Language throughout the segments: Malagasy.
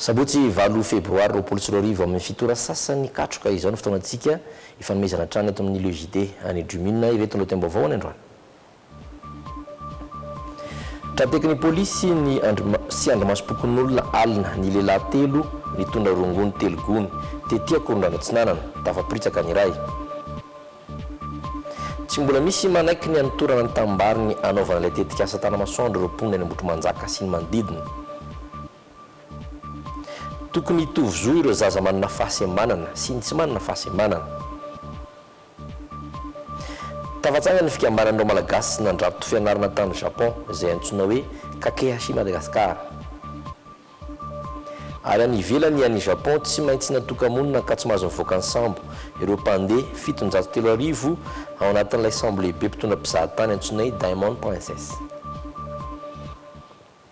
Sabotsy valo febroary roapolo sy roa arivo amin'ny fito ora sasany katroka izao ny fotoanantsika hifanomezana hatrany eto amin'ny Le JT. Any Drumune ireto lohatenim-baovao any androany. Tratekin'ny polisy sy ny sy andrimasom-pokonolona alina ny lehilahy telo nitondra rongony telo gony tety Ankorondrano Atsinanana, tafapiritsaka ny iray. Tsy mbola misy manaiky ny hanotorana ny tanimbary-ny hanaovana ilay tetikasa Tanamasoandro ireo mponina any Ambohitrimanjaka sy ny manodidina. Tokony hitovy zo ireo zaza manana fahasembanana sy ny tsy manana fahasembanana. Tafatsangana ny fikambanan'ireo Malagasy nandrato fianarana tany Japon izay antsoina hoe Kakehashi Madagascar. Ary any ivelany any Japon tsy maintsy natoka-monina ka tsy mahazo mivoaka ny sambo ireo mpandeha fitonjato telo arivo ao anatin'ilay sambo lehibe mpitondra mpizahatany antsoina hoe Diamond Princess.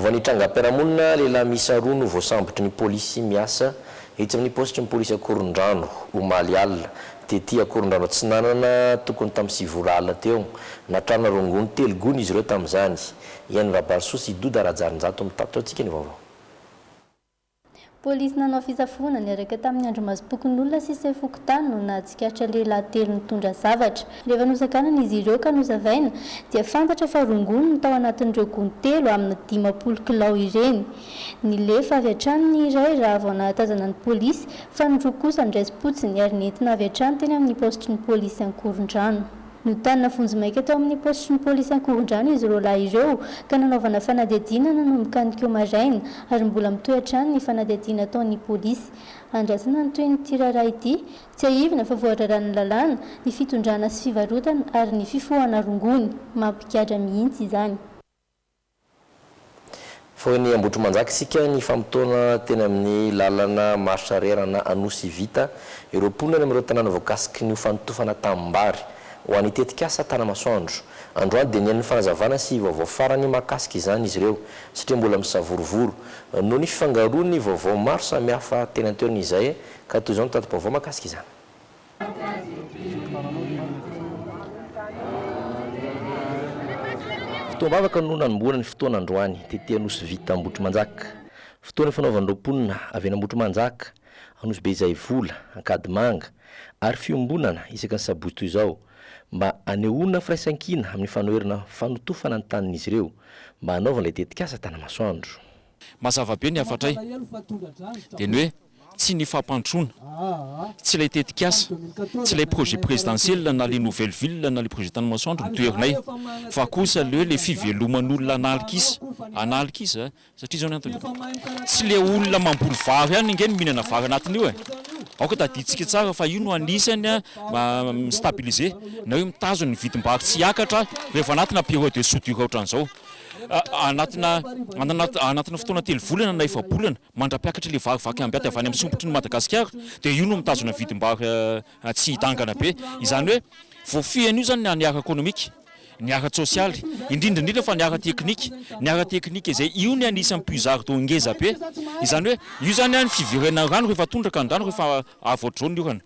Vao ny trangam-piarahamonina, lehilahy miisa roa no voasambotry ny polisy miasa etsy amin'ny paositry ny polisy Ankorondrano, omaly alina, tety Ankorondrano Atsinanana, tokony tamin'ny sivy ora alina teo. Natrana rongony telo gony izy ireo tamin'izany. Ihaino Rabarisoa sy Doda Rajarinjato mitatitra ho antsika ny vaovao. Polisy nanao fisafoana niaraka tamin'ny andrimazimpokonolona sy sefo fokontany no nahatsikaritra lehilahy telo nitondra zavatra. Rehefa nosakanana izy ireo ka nosavaina dia fantatra fa rongony no tao anatin'ireo gony telo amina dimampolo kilao ireny. Nilefa avy hatrany ny iray raha vao nahatazana ny polisy fa ny roa kosa niraisim-potsiny ary nentina avy hatrany teny amin'ny paositry ny polisy Ankorondrano. Notanina vonjimaika tao amin'ny paositrin'ny polisy Ankorondrano izy roalahy ireo ka nanaovana fanadihadiana nanomboka ny ko maraina ary mbola mitohy hatrany ny fanadihadiana ataon'ny polisy. Andrasana ny tohin'ity raharaha ity. Tsiahivina fa voararan'ny lalàna ny fitondrana sy fivarotana ary ny fifohana rongony. Mampigadra mihitsy izany. Vao eny Ambohitrimanjaka isika nifamotoana teny amin'ny lalana maharitra rr ana Anosy Vita ireo mponina any amin'ireo tanàna voakasiky ny ho fanotofana tanimbary ho an'ny tetikasa Tanamasoandro. Androany dia nihaino ny fanazavana sy vaovao farany mahakasika izany izy ireo satria mbola misavorovoro noho ny fifangaroan'ny vaovao maro samihafa teny an-toerana izay ka toy izao ny tati-baovao mahakasika izany. Fotoam-bavaka no nanombohana ny fotoana androany tety Anosy Vita Ambohitrimanjaka. Fotoana ifanaovan'ireo mponina avy eny Ambohitrimanjaka, Anosy Be Zaivola, Ankadimanga ary fiombonana isaky ny sabotsy toy izao mba hanehoana firaisankina amin'ny fanoherana fanotofana ny tanin'izy ireo mba hanaovana ilay tetikasa Tanamasoandro. Mazava be ny hafatray. Dia ny hoe, tsy ny fampandrosoana, tsy ilay tetikasa, tsy ilay projet présidentiel na le nouvelle ville na le projet Tanimasoandro no toherinay fa kosa le hoe le fiveloman'olona an'alikisa, an'alikisa satria izao ny antony e, tsy le olona mamboly vary ihany ange no mihinana vary anatin'io e, aoka tadidintsika tsara fa io no anisany mi-stabiliser na hoe mitazona ny vidim-bary tsy hiakatra rehefa anatina période de soudure otran'izao. Anatina anatina fotoana telo volana na efa-bolana mandra-piakatra ilay vary vaky ambiaty avy any amin'ny sompitry ny Madagasikara dia io no mitazona vidim-bary tsy hidangana be. Izany hoe voafehy an'io izany ny ara-ekonomika, ny ara-tsosialy, indrindra indrindra fa ny ara-teknika. Ny ara-teknika izay io ny anisan'ny puisard d'eau ngeza be. Izany hoe io izany ny fiverenan'ny rano rehefa tondraka ny rano rehefa avy aodrao ny orana.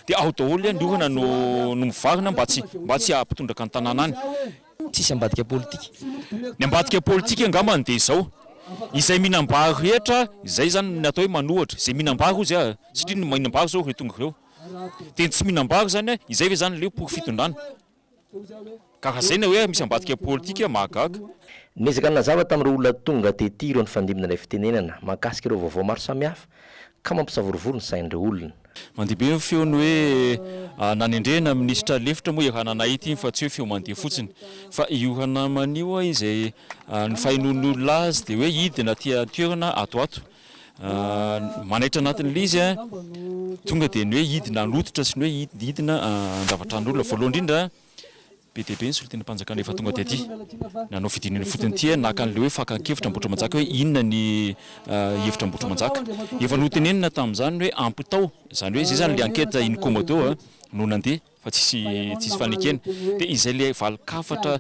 Dia ao daholo iany ohana no mivarina mba tsy mba tsy ahapitondraka ny tanàna any. Tsisy ambadika politika. Ny ambadika politika angambany dia izao, izay mihinam-bary rehetra, izay izany ny atao hoe manohatra, izay mihinam-bary hozy ah, satria ny mihinam-bary izao ireo tonga ireo, dia ny tsy mihinam-bary izany an, izay ve izany ilay porofon-pitondrana? Ka raha izay ny hoe misy ambadika politika, mahagaga. Niezaka nanazava tamin'ireo olona tonga tety ireo nifandimby nandray fitenenana mahakasika ireo vaovao maro samihafa ka mampisavorovoro ny sain'ireo olona. Mandeha be ny feon'ny hoe nanendrena minisitra lefitra moa i Rananay ity fa tsy hoe feo mandeha fotsiny. Fa io Ranamana io izay ny fahenoan'ny olona azy dia hoe hidina aty an-toerana ato ato. manaitra anatin'ilay izy a, tonga dia ny hoe hidina hanototra sy ny hoe hidina handrava tranon'olona. Voalohany indrindra, be dia be ny solontenam-panjakana efa tonga taty. Nanao fidinana ifotony ity, naka an'ilay hoe fakan-kevitra Ambohitrimanjaka hoe inona ny hevitra Ambohitrimanjaka. Efa notenenina tamin'izany ny hoe ampitao, izany hoe izay izany ilay enquête in commodo no nandeha. fa tsisy tsisy fanekena dia izay le valin-kafatra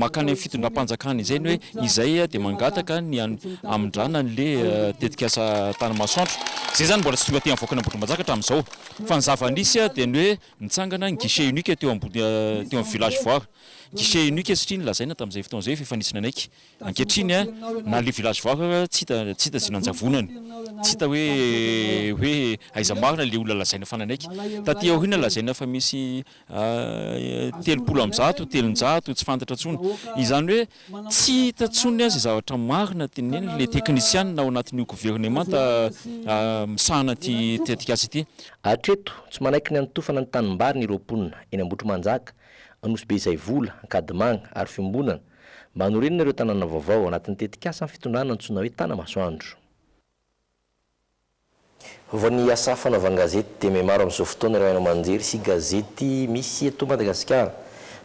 makany amin'ny fitondram-panjakana izay ny hoe izay dia mangataka ny hamindràna an'le tetikasa tany Masoandro izay zany mbola tsy tonga aty avoakany Ambohitrimanjaka hatramin'izao fa ny zava-nisy dia ny hoe nitsangana ny guichet unique teo ambony teo amin'ny village voire guichet unique satria ny lazaina tamin'izay fotoana izay fa efa nisy nanaiky Ankehitriny na le village vaoka aza tsy hita tsy hita ze nanjavonany. Tsy hita hoe hoe aiza marina le olona lazaina fa nanaiky. Taty aoriana lazaina fa misy telopolo amby zato, telonjato, tsy fantatra tsony. Izany hoe tsy hita tsony aza zavatra marina teneniny le teknisianina ao anatin'io governemanta misahana an'ity tetikasa ity. Hatreto, tsy manaiky ny hanotofana ny tanimbariny ireo mponina eny Ambohitrimanjaka, Anosibe Izaivola, Ankadimanga ary Fiombonana mba hanorenana ireo tanàna vaovao ao anatin'ny tetikasan'ny fitondrana antsoina hoe Tanamasoandro. Vao ny asa fanaovan-gazety dia mihamaro amin'izao fotoana ireo haino aman-jery sy gazety misy eto Madagasikara.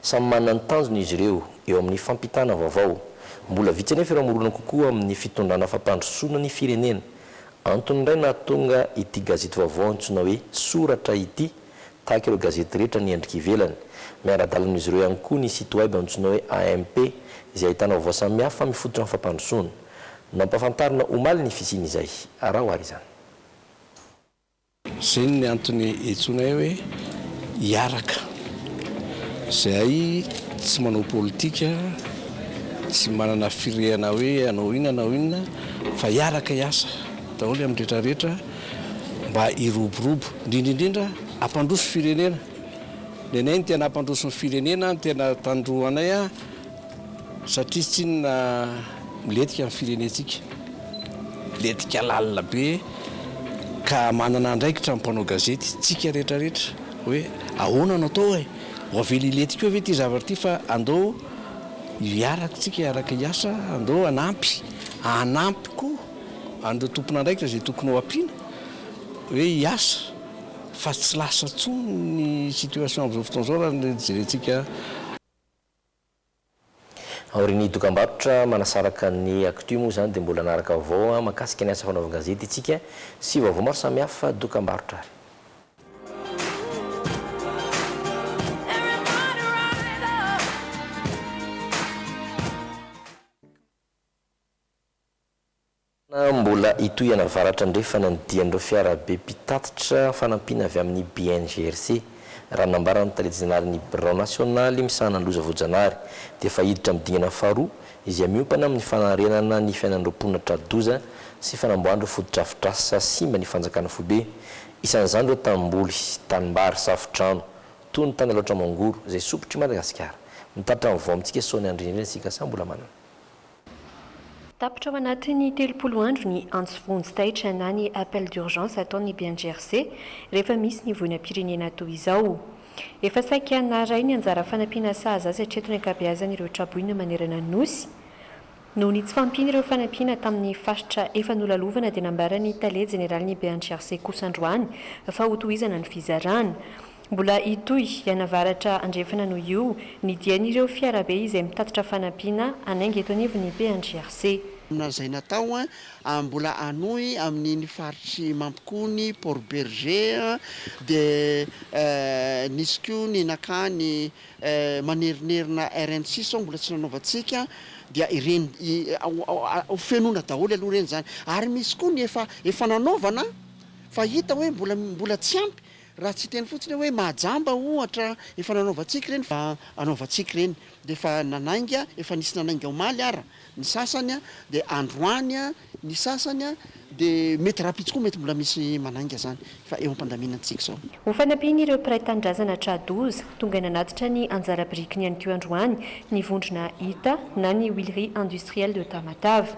Samy manana ny tanjony izy ireo eo amin'ny fampitana vaovao. Mbola vitsy anefa ireo mirona kokoa amin'ny fitondrana fampandrosoana ny firenena. Antony indray nahatonga ity gazety vaovao antsoina hoe Soratra ity, tahaka ireo gazety rehetra ny endrika ivelany. Miara-dalana amin'izy ireo ihany koa ny site web antsoina hoe AMP, izay ahitana vaovao samihafa mifototra amin'ny fampandrosoana. Nampahafantarina omaly ny fisian'izay. Araho àry izany. Izay ny antony iantsoanay hoe hiaraka. Izahay tsy manao politika, tsy manana firehana hoe hanao inona hanao inona, fa hiaraka hiasa daholo amin'ny rehetra rehetra. mba hiroborobo indrindra indrindra hampandroso firenena ny anay ny tena hampandroso ny firenena ny tena tandroanay a satria tsy inona miletika ny firenentsika letika lalina be ka manana andraikitra ny mpanao gazety tsika rehetrarehetra hoe ahoana no atao e ho avela iletika eo ve ity zavatra ity fa andao hiaraka tsika hiaraka hiasa andao hanampy hanampy koa an'ireo tompon'andraikitra izay tokony ho ampiana hoe hiasa fa tsy lasa intsony ny situation amin'izao fotoana izao raha ny jerentsika. Aorian'ny dokambarotra manasaraka ny Actu moa izany dia mbola hanaraka vaovao mahakasika ny asa fanaovan-gazety isika sy vaovao maro samihafa dokambarotra ary. Tena mbola hitohy any avaratra andrefana ny dian'ireo fiarabe mpitatitra fanampiana avy amin'ny BNGRC. Raha nambaran'ny tale jeneralin'ny birao nasionaly misahana ny loza voajanahary dia efa hiditra amin'ny dingana faharoa izay miompana amin'ny fanarenana ny fiainan'ireo mponina tra-doza sy fanamboahan'ireo fotodrafitrasa simba ny fanjakana foibe. Isan'izany ireo tanimboly, tanimbary, safo-drano, toy ny tany Alaotra Mangoro izay sompitry Madagasikara. Mitatitra ny vao amintsika Sonia Andry Nirina isika samy mbola manana. Tapitra ao anatin'ny telopolo andro ny antso vonjy taitra na ny appel d'urgence ataon'ny BNGRC rehefa misy ny voinam-pirenena toy izao. Efa saika naharay ny anjara fanampiana sahaza azy hatreto ny ankabeazany ireo tra-boina manerana ny Nosy. Noho ny tsy fahampiana ireo fanampiana tamin'ny faritra efa nolalovana dia nambaran'ny tale jeneralin'ny BNGRC kosa androany fa hotohizana ny fizarana. Mbola hitohy any avaratra andrefana noho io ny dian'ireo fiarabe izay mitatitra fanampiana hanainga eto anivon'ny PNGRC. Manana izay natao ary mbola hanohy amin'iny faritr'i Mampikony, Port Bergé, dia nisy koa ny nakany manerinerina RN six sao mbola tsy nanaovantsika dia ireny ho fenoina daholo aloha ireny izany ary misy koa ny efa efa nanaovana fa hita hoe mbola mbola tsy ampy Raha tsy hiteny fotsiny aho hoe mahajamba ohatra efa nanaovantsika ireny fa hanaovantsika ireny dia efa nanainga efa nisy nanainga omaly ara ny sasany dia androany ny sasany dia mety rahampitso koa mety mbola misy manainga zany fa eo ampandaminantsika zao. Ho fanampian'ireo mpiray tanindrazana tra-doza, tonga nanatitra ny anjara birikiny ihany koa androany ny vondrona Hita na ny Huileries Industrielles de Tamatave.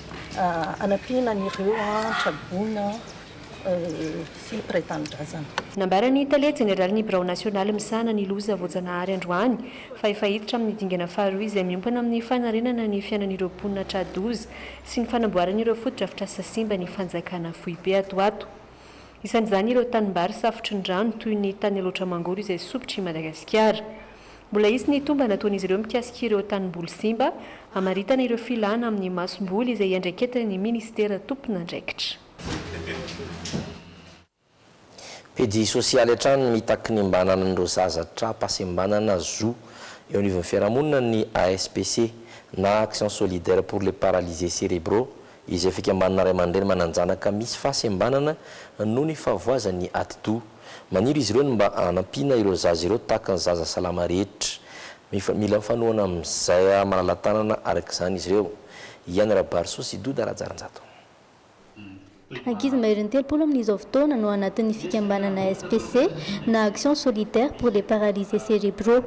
hanampiana an'ireo tra-boina sy mpiray tanindrazana. Nambaran'ny tale jeneralin'ny birao nasionaly misahana ny loza voajanahary androany fa efa hiditra amin'ny dingana faharoa izay miompana amin'ny fanarenana ny fiainan'ireo mponina tra-doza sy ny fanamboarana ireo fotodrafitrasa simba ny fanjakana foibe ato ato. Isan'izany ireo tanimbary safotry ny rano toy ny tany Alaotra Mangoro izay sompitry Madagasikara. Mbola hisy ny tombana ataon'izy ireo mikasika ireo tanimboly simba, hamaritana ireo filàna amin'ny masomboly izay iandraiketan'ny minisitera tompon'andraikitra. Pejy sosialy hatrany mitaky ny mba hananan'ireo zaza tra-pahasembanana zo eo anivon'ny fiarahamonina ny ASPC na Action Solidaire pour les Paralysés Cérébraux, izay fikambanana ray aman-dreny manan-janaka misy fahasembanana noho ny fahavoazan'ny atidoha. Maniry izy ireo ny mba hanampiana ireo zaza ireo tahaka ny zaza salama rehetra. Mila mifanohana amin'izay maha-malala-tanana araka izany izy ireo. I Any Rabarso sy Doda Rajarinjato. Ankizy maherin'ny telopolo amin'izao fotoana no anatin'ny fikambanana SPC na Action Solidaire pour les Paralysés Cérébraux.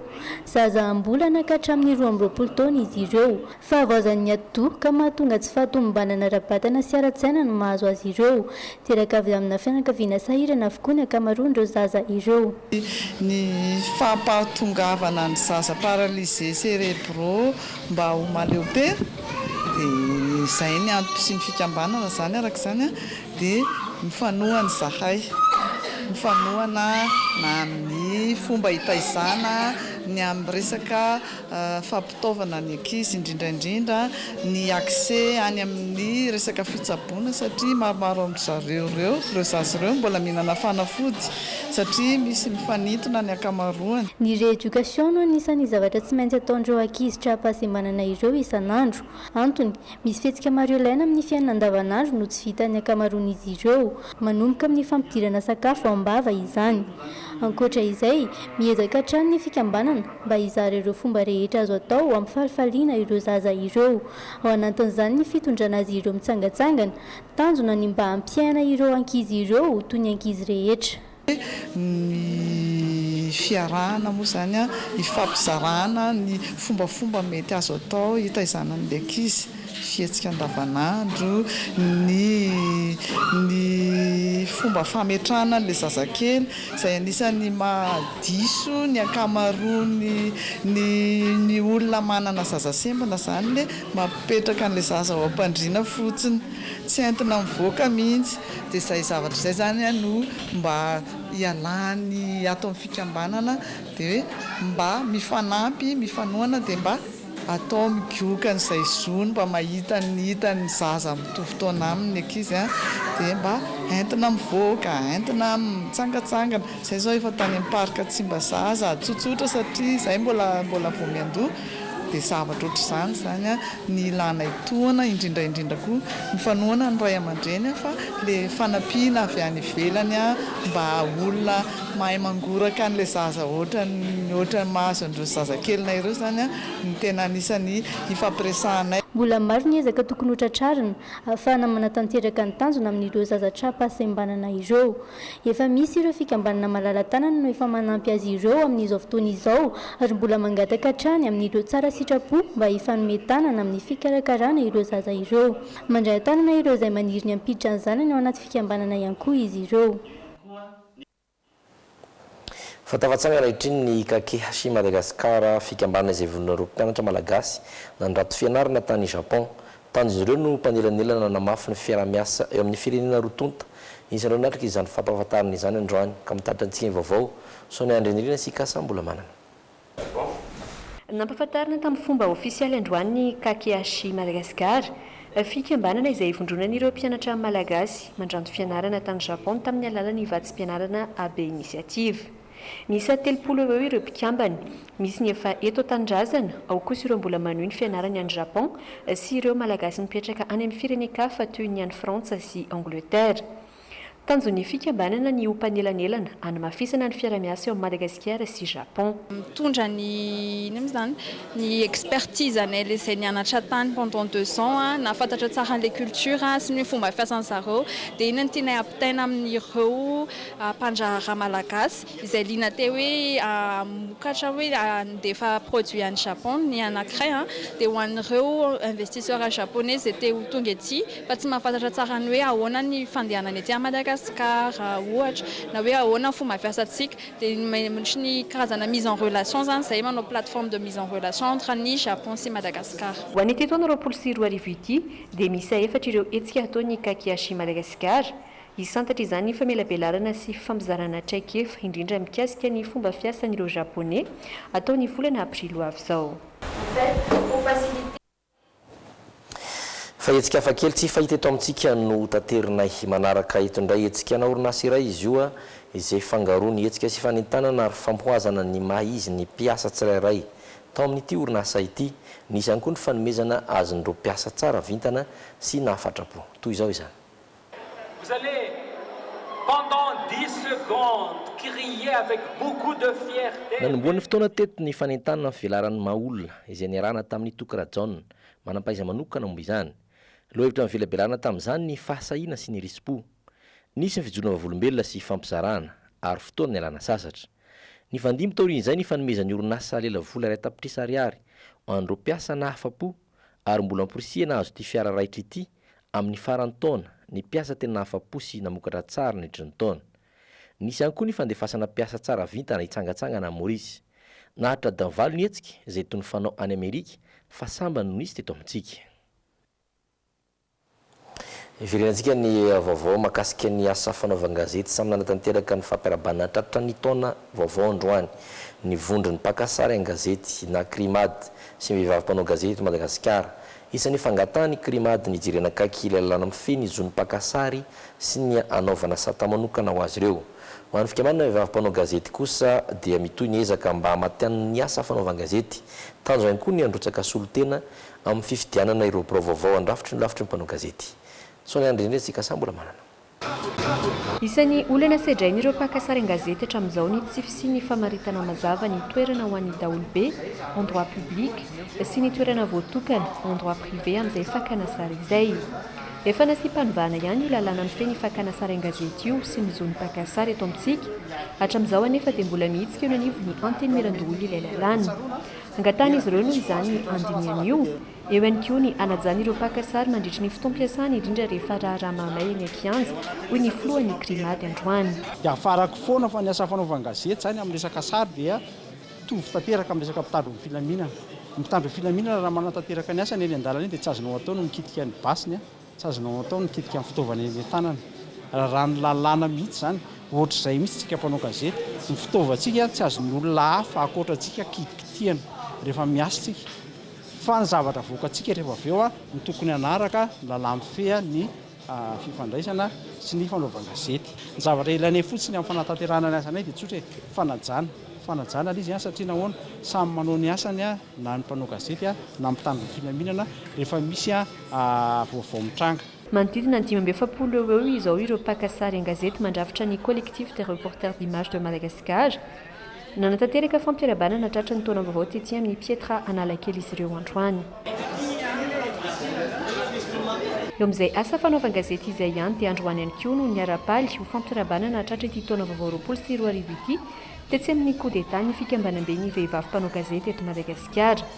Zaza am-bolana ka hatramin'ny roa amby roapolo taona izy ireo. Fahavoazan'ny atidoha ka mahatonga tsy fahatomombanana ara-batana sy ara-tsaina no mahazo azy ireo. Teraka avy amina fianakaviana sahirana avokoa ny ankamaroan'ireo zaza ireo. Ny fampahatongavana ny zaza paralysés cérébraux mba ho maleopera dia izay ny antoko sy ny fikambanana izany araka izany dia mifanohana izahay mifanohana na amin'ny fomba hitaizana ny amin'ny resaka fitaovana ny ankizy indrindra indrindra ny accès any amin'ny resaka fitsaboana satria maromaro amin-dry zareo ireo ireo zaza ireo mbola mihinana fanafody satria misy mifanintona ny ankamaroany. Ny rééducation no anisan'ny zavatra tsy maintsy ataon'ireo ankizy tra-pahasembanana ireo isan'andro. Antony, misy fihetsika maro ilaina amin'ny fiainana andavanandro no tsy vitan'ny ankamaroan'izy ireo. Manomboka amin'ny fampidirana sakafo am-bava izany. Ankoatra izay, miezaka hatrany ny fikambanana, mba hizara ireo fomba rehetra azo atao hampifalifaliana ireo zaza ireo, ao anatin'izany ny fitondrana azy ireo mitsangatsangana. Tanjona ny mba hampiaina ireo ankizy ireo ho toy ny ankizy rehetra. Ny fiarahana moa izany hifampizarana ny fombafomba mety azo atao hitaizana ny ankizy. fihetsika andavanandro, ny ny fomba fametrahana an'ilay zazakely izay anisan'ny mahadiso ny ankamaroan'ny ny ny olona manana zaza sembina izany le mapetraka an'ilay zaza ao am-pandriana fotsiny tsy entina mivoaka mihitsy dia izay zavatra izay izany a no mba ialany ato amin'ny fikambanana dia hoe mba mifanampy mifanohana dia mba Atao migoka an'izay zony mba mahita ny hitan'ny zaza mitovy taona aminy ny ankizy a! dia mba entina mivoaka, entina mitsangatsangana, izay izao efa tany amin'ny parc Tsimbazaza, tsotsotra satria izay mbola mbola vao miandoha, dia zavatra ohatr'izany izany a! ny ilana etoana, indrindra indrindra koa ny fanohana ny ray aman-dreny a! fa ilay fanampiana avy any ivelany a! mba olona Mahay mangoraka an'ilay zaza ohatran'ny ohatran'ny mahazo an'ireo zazakelinay ireo izany no tena anisan'ny hifampiresahanay. Mbola maro ny ezaka tokony hotratrarina, ahafahana manatanteraka ny tanjona amin'ireo zaza tra-pahasembanana ireo. Efa misy ireo fikambanana malala-tanana no efa manampy azy ireo amin'izao fotoana izao, ary mbola mangataka hatrany amin'ireo tsara sitrapo mba hifanome tanana amin'ny fikarakarana ireo zaza ireo. Mandray an-tanana ireo izay maniry ny hampiditra ny zanany ao anaty fikambanana ihany koa izy ireo. Fa tafatsangana ankehitriny ny Kakehashi Madagascar, fikambanana izay vonona roa mpianatra malagasy nandrato fianarana tany Japon. Tanjon'izy ireo no mpanelanelana hanamafy ny fiaraha-miasa eo amin'ny firenena roa tonta. Isan'ireo natrika izany fampahafantarana izany androany ka mitarika antsika ny vaovao, Sonia Andrianirina sy Ikasa Ambolamanana. Nampahafantarina tamin'ny fomba ofisialy androany ny Kakehashi Madagascar, fikambanana izay ivondronan'ireo mpianatra malagasy mandranto fianarana tany Japon tamin'ny alalan'ny vatsim-pianarana AB Initiative. Niisa telopolo eo ho eo ireo mpikambana, misy ny efa eto an-tanindrazana, ao kosa ireo mbola manohy ny fianarany any Japon sy ireo Malagasy mipetraka any amin'ny firenen-kafa toy ny any Frantsa sy Angletera. Tanjon'ny fikambanana ny ho mpanelanelana hanamafisana ny fiarahamiasa eo amin'i Madagasikara sy Japon. Mitondra ny inona moa izany, ny expertise anay ilay izay nianatra tany pendant deux ans, nahafantatra tsara an'ilay culture sy ny fomba fiasan'ny zareo. Dia iny no tianay hampitaina amin'ireo mpandraharaha malagasy izay liana te hoe hamokatra, hoe handefa produit any Japon ny anankiray, dia ho an'ireo investisseurs japonais izay te ho tonga ety. fa tsy mahafantatra tsara ny hoe ahoana ny fandehanana ety à Madagascar ohatra na hoe ahoana ny fomba fiasantsika dia misy ny karazana mise en relation zany izay manao plateforme de mise en relation entre ny Japon sy Madagascar. Ho an'ity taona roapolo sy roa arivo ity dia miisa efatra ireo hetsika hataon'ny Kakiashi Madagascar, hisantatra izany famelabelarana sy fampizarana traikefa indrindra mikasika ny fomba fiasan'ireo Japoney hatao ny volana aprily ho avy izao. Fa hetsika hafa kely tsy fahita eto amintsika no hotanterinay. Manaraka eto indray hetsika ana orinasa iray izy io izay fangaroa ny hetsika sy fanentanana ary famohazana ny maha izy ny mpiasa tsirairay tao amin'ity orinasa ity. Nisy ihany koa ny fanomezana azon'ireo mpiasa tsara vintana sy nahafatra-po. Toy izao izany. Vous allez pendant dix secondes crier avec beaucoup de fierté. Nanombohan'ny fotoana teto ny fanentanana ny fivelaran'ny maha olona, izay niarahana tamin'i Toky Rajaona, manam-pahaiza manokana momba izany. Lohahevitra nivelabelarana tamin'izany ny fahasahiana sy ny risi-po. Nisy ny fijoroana vavolombelona sy fampizarana, ary fotoana nialana sasatra. Nifandimby taorian'izay ny fanomezan'ny orinasa Lela vola iray tapitrisa ariary ho an'ireo mpiasa nahafa-po. ary mbola amporisihina hahazo ity fiara raitra ity amin'ny faran'ny taona ny mpiasa tena nahafa-po sy namokatra tsara nandritry ny taona. Nisy ihany koa ny fandefasana mpiasa tsara vintana hitsangantsangana any Maurice. Naharitra adiny valo ny hetsika izay toy ny fanao any Amerika fa sambany no nisy teto amintsika. Iverenantsika ny vaovao mahakasika ny asa fanaovan-gazety samy nanatanteraka ny fampiarabana tratra ny taona vaovao androany ny vondron'ny mpaka sary an-gazety na Crimad sy ny vehivavy mpanao gazety eto Madagasikara. Isan'ny fangatahan'ny Crimad ny hijerena akaiky ilay lalàna mifehy ny zon'ny mpaka sary sy ny hanaovana sata manokana ho azy ireo. Ho an'ny fikamanana vehivavy mpanao gazety kosa dia mitohy ny ezaka mba hamatianina ny asa fanaovan-gazety. Tanjona ihany koa ny handrotsaka solontena amin'ny fifidianana ireo birao vaovao handrafitry ny lafitry ny mpanao gazety. Sao ny an'ireny retsy Ikasa mbola manana. Isan'ny olana sedrain'ireo mpaka sary an-gazety hatramin'izao ny tsy fisian'ny famaritana mazava ny toerana ho an'ny daholobe, endroit public, sy ny toerana voatokana, endroit privé, amin'izay fakana sary izay. Efa nasiam-panovana ihany io lalàna mifehy ny fakana sary an-gazety io sy ny zon'ny mpaka sary eto amintsika. Hatramin'izao anefa dia mbola mihitsika eo anivon'ny Antenimierandoholona ilay lalàna. Angatahin'izy ireo noho izany ny handinihana io. Eo ihany koa ny hanajana ireo mpaka sary mandritry ny fotoam-piasany, indrindra rehefa raharaha mahamay eny an-kianja, hoy ny filohan'ny Crimad androany. Iafarako foana fa ny asa fanaovan-gazety izany amin'ny resaka sary dia mitovy tanteraka amin'ny resaka mpitandro ny filaminana. Ny mpitandro ny filaminana raha manatanteraka ny asany eny an-dalana eny dia tsy azonao atao ny mikitika ny basiny Tsy azonao atao ny mikitika ny fitaovana eny an-tanana. Raràn'ny lalàna mihitsy izany. Ohatr'izay mihitsy tsika mpanao gazety. Ny fitaovantsika tsy azon'ny olona hafa ankoatra antsika kitikitihana rehefa miasa tsika. Fa ny zavatra avoakantsika rehefa avy eo no tokony hanaraka ny lalà mifeha ny fifandraisana sy ny fanaovan-gazety. Ny zavatra ilainay fotsiny amin'ny fanatanterahana ny asanay dia tsotra e, fanajana. Fanajana ilay izy an, satria nahoana? Samy manao ny asany na ny mpanao gazety na ny mpitandro ny filaminana rehefa misy vaovao mitranga. Manodidina ny dimy amby efapolo eo ho eo izao ireo mpaka sary an-gazety mandrafitra ny Collectif des Reporters d'Images de Madagascar. Nanatanteraka fampiarabanana tratra ny taona vaovao tetsy amin'ny Pietra Analakely izy ireo androany. Eo amin'izay asa fanaovan-gazety izay ihany dia androany ihany koa no niara-paly ho fampiarabanana tratra ity taona vaovao roapolo sy roa arivo ity tetsy amin'ny Coup d'Etat ny fikambanamben'ny vehivavy mpanao gazety eto Madagasikara.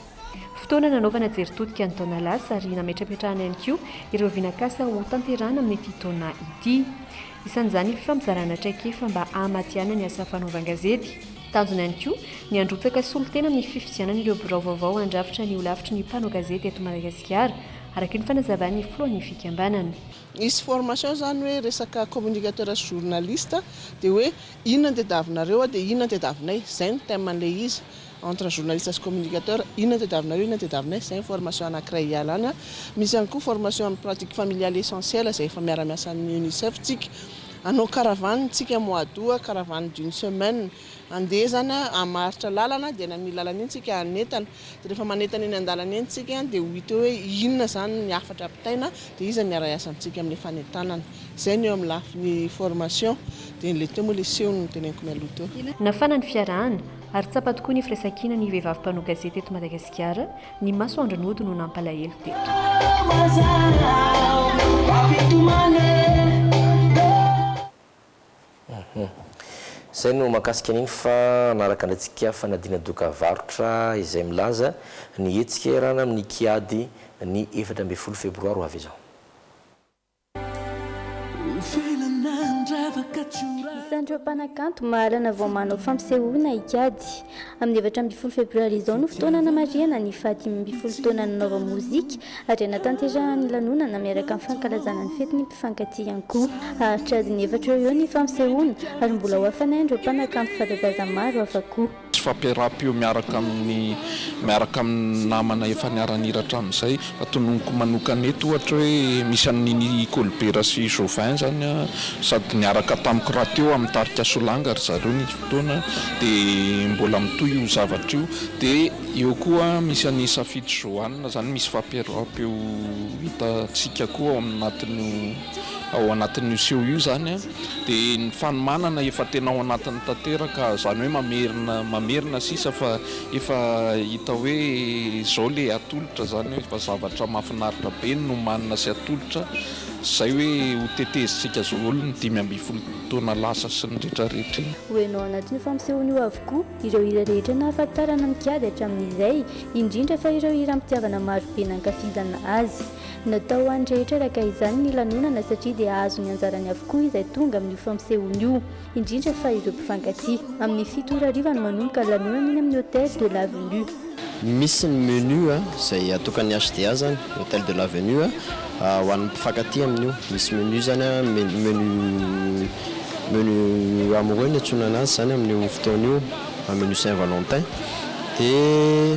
Fotoana nanaovana jery todika ny taona lasa ary nametrapetrahana ihany koa ireo vinakasa ho tanterahana amin'ity taona ity. Isan'izany ny fifampizarana traikefa mba hahamadihana ny asa fanaovan-gazety. Tanjona ihany koa ny handrotsaka solontena amin'ny fifidianana ireo birao vaovao handrafitra ny holafitry ny mpanao gazety eto Madagasikara, araka ny fanazavan'ny filohan'ny fikambanana. Hisy formation zany hoe resaka communicateur sy journaliste dia hoe inona ny tadiavinareo dia inona ny tadiavinay, izay no thème an'ilay izy. entre journaliste sy communicateur, inona no tadiavinareo, inona no tadiavinay, izay ny formation anankiray hialana, misy ihany koa formation amin'ny pratique familiale essentielle izay efa miara-miasa amin'ny UNICEF tsika, hanao caravane tsika mois d'aout, caravane d'une semaine, handeha izany hamaritra lalana, dia any amin'iny lalana iny tsika hanentana, dia rehefa manentana eny an-dalana eny tsika dia ho hita eo hoe inona izany ny hafatra ampitaina, dia iza no hiara-hiasa amintsika amin'ilay fanentanana, izay ny eo amin'ny lafiny formation, dia ilay teo moa ilay seho no noteneniko mialoha teo. Nafana ny fiarahana. Ary tsapa tokoa ny firaisankina ny vehivavy mpanao gazety eto Madagasikara, ny masoandro nody no nampalahelo teto. Izay no mahakasika an'iny fa hanaraka andraikintsika fanadina doka varotra izay milaza ny hetsika iarahana amin'ny kiady ny efatra ambin'ny folo febroary ho avy izao. Isan'ireo mpanakanto mahalana vao manao fampisehoana hikajy. Amin'ny efatra ambin'ny folo febroary izao no fotoana hanamarihana ny fahadimy ambin'ny folo taona nanaovany mozika ary hanatanterahany lanonana miaraka amin'ny fankalazana ny fetin'ny mpifankatia-ko. Haharitra adiny efatra eo ho eo ny fampisehoana ary mbola ho hafanay an'ireo mpanakanto fanta-daza maro hafa koa. Tsy fampiaraham-peo miaraka amin'ny miaraka amin'ny namana efa niara-nihira hatramin'izay. Fa tononiko manokana eto ohatra hoe misy an'i Nini Kolibera sy Jovin izany an, sady niaraka tamiko rahateo amin'ny tarika Solanga ry zareo nisy fotoana dia mbola mitohy io zavatra io. Dia eo koa misy an'i Safidy Johanna izany misy fampiaraham-peo hitantsika koa ao anatin'io. ao anatin'io seho io zany dia ny fanomanana efa tena ao anatiny tanteraka zany hoe mamerina mamerina sisa fa efa hita hoe zao le atolotra zany hoe fa zavatra mafinaritra be no manina sy atolotra zay hoe ho tetezintsika zoholo ny dimy ambin'ny folo taona lasa sy ny retraretra iny ho heno ao anatin'io fampisehony io avokoa ireo hira rehetra nahafantarana mikady hatramin'izay indrindra fa ireo hiram-pitiavana marobe nankafizana azy. Natao ho an'ny rehetra araka izany ny lanonana satria dia hahazo ny anjarany avokoa izay tonga amin'io fampisehoana io, indrindra fa ireo mpifankatia. Amin'ny fito ora hariva no manomboka ny lanonana eny amin'ny Hôtel de l'Avenue. Misy ny menu izay atokan'ny HDA izany, Hôtel de l'Avenue, ho an'ny mpifankatia amin'io. Misy menu izany, menu menu amoureux no iantsoana an'azy izany amin'io fotoana io, menu Saint Valentin dia.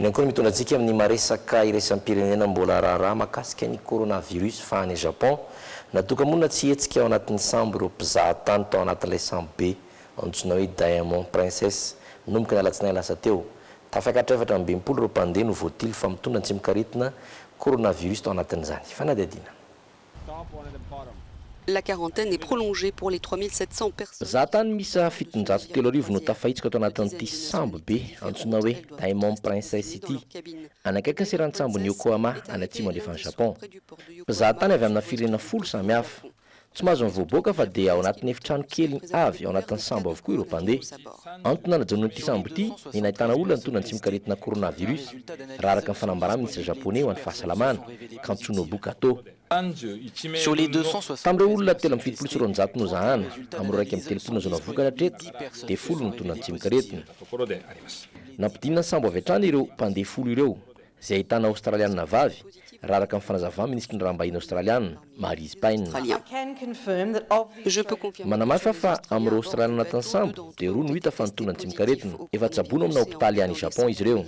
Eny ihany koa no mitondra antsika amin'ny maha-resaka iraisam-pirenena mbola raharaha mahakasika ny coronavirus fa any Japon, natoka-monina tsy hihetsika ao anatin'ny sambo ireo mpizaha tany tao anatin'ilay sambo be antsoina hoe Diamond Princess nanomboka ny alatsinainy lasa teo. Tafakatra efatra amby enimpolo ireo mpandeha no voatily fa mitondra an-tsimokaretina coronavirus tao anatin'izany fanadihadiana. La quarantaine est prolongée pour les trois mille sept cents personnes. Zahantany miisa fitonjato telo arivo no tafahitsika tao anatin'ity sambo be antsoina hoe Diamond Princess ity, any akaikin'ny seranan-tsambon'i Yokohama any atsimo andrefan'i Japon. Mpizahatany avy amina firenena folo samy hafa. Tsy mahazo mivoaboaka fa dia ao anatin'ny efitrano kely avy ao anatin'ny sambo avokoa ireo mpandeha. Antony nanajonoan'ity sambo ity ny nahitana olona nitondra ny tsimokaretina coronavirus, raha araka ny fanambaran'ny minisitra Japoney ho an'ny fahasalamana. Katsunobu Kato. Tamin'ireo olona telo amby fitopolo sy roanjato nozahana, amin'ireo iraika amby telopolo nazaona vokatra hatreto, dia folo no tonga an-tsemok'aretina. Nampidinina sambo avy hatrany ireo mpandeha folo ireo, izay ahitana Aostraliana vavy, raha araka ny fanazavà minisitry ny raham-bahiny Aostraliana. Marise Payne. Manamafy aho fa amin'ireo Aostraliana anatin'ny sambo dia roa no hita fa nitondra ny tsimok'aretina. Efa tsaboina ao amina hopitaly any Japon izy ireo.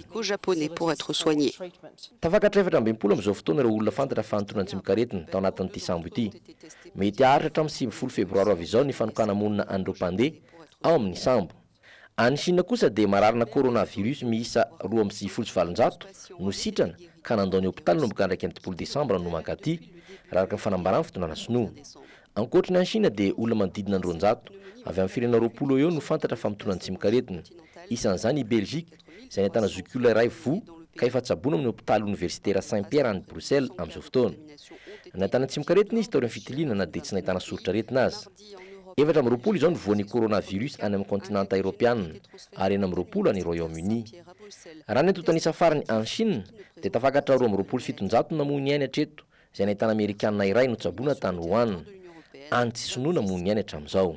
Tafakatra efatra ambin'ny folo amin'izao fotoana ireo olona fantatra fa nitondra ny tsimok'aretina tao anatin'ity sambo ity. Mety haharitra hatramin'ny sivifolo febroary ho avy izao ny fanokana-monina an'ireo mpandeha ao amin'ny sambo. Any Chine kosa dia mararina coronavirus miisa roa amby sivifolo sy valonjato no sitrana ka nandao ny hopitaly nanomboka iraika amby dimampolo desambra no mankaty, raha araka ny fanambaran'ny fitondrana sinoa. Ankoatry ny any Chine dia olona manodidina ny roanjato avy amin'ny firenena roapolo eo eo no fantatra fa mitondra ny tsimokaretina, isan'izany i Belgique. izay nahitana zokiola iray voa ka efa tsaboina ao amin'ny hopitaly oniversitera Saint-Pierre any Bruxelles amin'izao fotoana. Nahitana tsimokaretina izy taorian'ny fitiliana na dia tsy nahitana soritr'aretina aza. Efatra amby roapolo izao ny voan'ny coronavirus any amin'ny kontinanta eropeana ary enina amby roapolo any Royaume-Uni. Raha ny antontan'isa farany any Shina dia tafakatra roa amby roapolo sy fitonjato ny namoy ny ainy hatreto izay nahitana amerikana iray notsaboina tany Wuhan, any tsy sinoa namoy ny ainy hatramin'izao.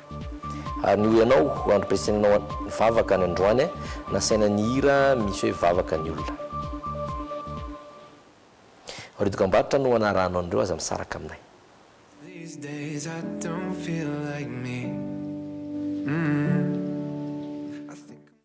Ary ny ho ianao ho androm-piasenanao ny vavaka any androany eh, nasaina nihira misy hoe vavaka ny olona. Ry dokambarotra no anarahanao an'ireo aza misaraka aminay. These days I don't feel like me, uhmm.